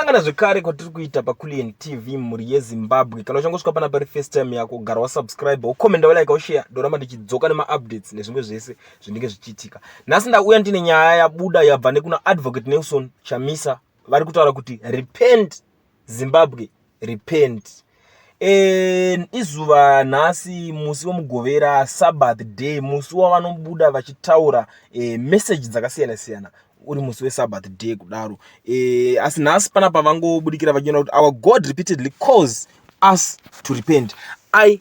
Sangana zvekare kwatiri kuita paCulian TV mhuri yeZimbabwe. Kana uchangosvika pana pari first time yako, gara wasubscribe, wokomenda, wolike, woshare, ndoramba ndichidzoka nemaupdates nezvimwe zvese zvinenge zvichiitika. Nhasi ndauya ndine nyaya yabuda yabva nekuna Advocate Nelson Chamisa vari kutaura kuti repent Zimbabwe, repent. e, izuva nhasi musi wemugovera sabbath day musi wavanobuda vachitaura e, message dzakasiyana siyana uri musi wesabbath day kudaro e, asi nhasi pana pavangobudikira vachiona kuti our god repeatedly calls us to repent i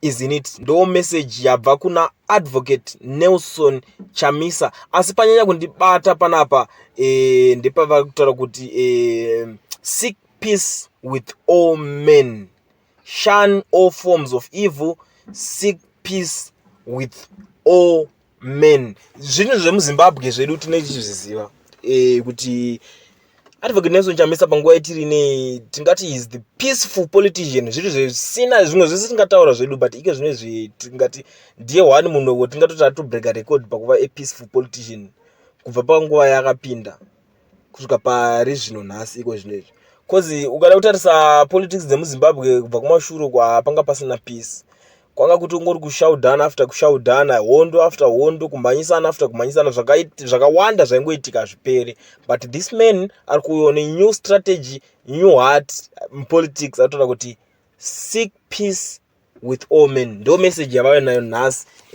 isn't it ndo message yabva kuna advocate nelson chamisa asi panyanya kundibata panapa e, ndepavari kutaura kuti e, seek peace with all men shun all forms of evil seek peace with all men zvinhu zvemuzimbabwe zvedu tinenge tichizviziva eh, kuti advocate nelson chamisa panguva yetiri nei tingati is the peaceful politician zviri zvisina zvimwe zvese tingataura zvedu but ike zvine zvetingati ndiye one munhu wo tingatoti atobreaker record pakuva apeaceful politician kubva panguva yaakapinda kusvika pari zvino nhasi iko zvino izvi bcause ukada kutarisa politics dzemuzimbabwe kubva kumashure uko hapanga pasina peace kwanga kuti ungori kushaudhana after kushaudhana hondo after hondo kumhanyisana after kumhanyisana zvakawanda zvaingoitika hazvipere but this man ari kuuyawo nenew strategy new heart politics atoda kuti seek peace with all men ndo message yavave nayo nhasi eh,